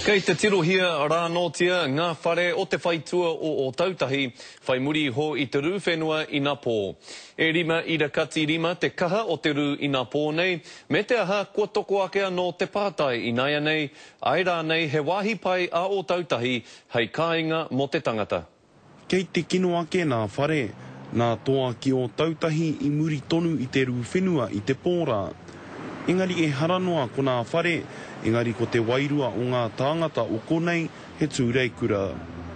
Kei te tirohia rānōtia ngā whare o te whaitua o Ōtautahi, whai muri iho i te rū whenua inapō. E rima ira kati rima te kaha o te rū inapō nei, me te aha, kua toko ake anō te pātai ināianei, āe rānei he wāhi pai a Ōtautahi hei kāinga mō te tangata. Kei te kino ake nā Whare, nā Toa ki Ōtautahi i muri tonu i te rū whenua i te pō rā. Engari ehara noa ko nā Whare, engari ko te wairua o ngā tāngata o konei he tūreikura.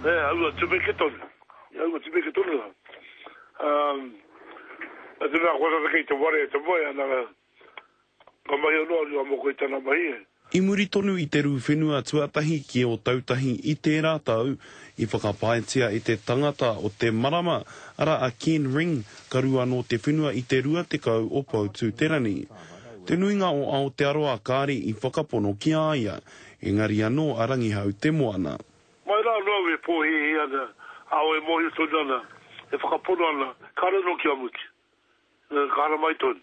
He aua tumeke tonu, he aua tumeke tonu rā. Nā te mea kua tata kei te ware e te moe ana, Ka mahi anō a Ruamoko i tana mahi e. I muri tonu i te rū whenua tuatahi ki Ōtautahi i tērā tau, i whakapaetia e te tangata o te marama, arā a Ken Ring, ka rū anō te whenua i te 20 o Poutū-te-rangi. Te nuinga o Aotearoa kāre i whakapono ki a ia, engari anō a Rangihau te moana. Mai rā anō au e pōhēhē ana, ā, e mōhio tonu ana, e whakapono ana, kāre anō kia mutu. Ka hara mai tonu.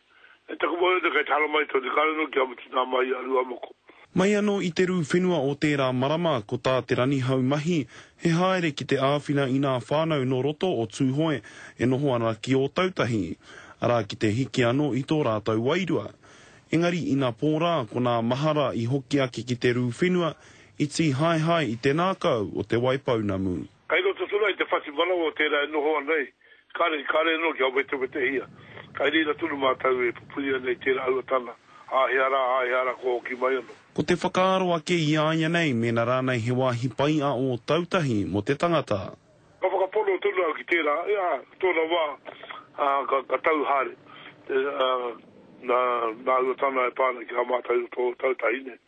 E taku mōrearea kei te hara mai tonu, kāore anō kia mutu nā Mahi a Ruamoko. Mai anō i te rū whenua o tērā marama, ko tā Te Ranihau mahi, he haere ki te āwhina i nā whānau nō roto o Tūhoe e noho ana ki Ōtautahi, arā ki te hiki anō i tō rātou wairua. Engari ina pō rā, ko nā mahara i hoki ake ki te rū whenua, i tīhaehae i te nākau o Te Waipounamu. Kai roto tonu ai te whati manawa o tērā e noho ana ai, kāre, kāre anō kia wetewetehia. Kai reira tonu mātau e pupuri ana i tērā aua tana, āhea rā, āhea rā kua hoki mai anō. Ko te whakaaro ake i a ia nei mēnā rānei he wāhi pai a Ōtautahi mō te tangata. Ka whakapono tonu au ki tērā, ā, i tōna wā, ā, ka, ka tau haere, ā, nā, nā aua tana e pā ana ki a mātau i roto o Ōtautahi nei.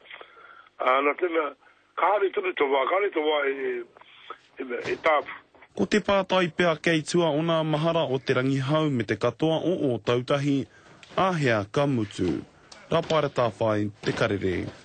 Ā, nā tena, Ka hare tonu te wā, ka hare te wā e tāpu. Ko te pātai pea kei tua ona mahara o Te Rangihau me te katoa o Ōtautahi, āhea ka mutu? Rapa Ratawhai, Te Karere.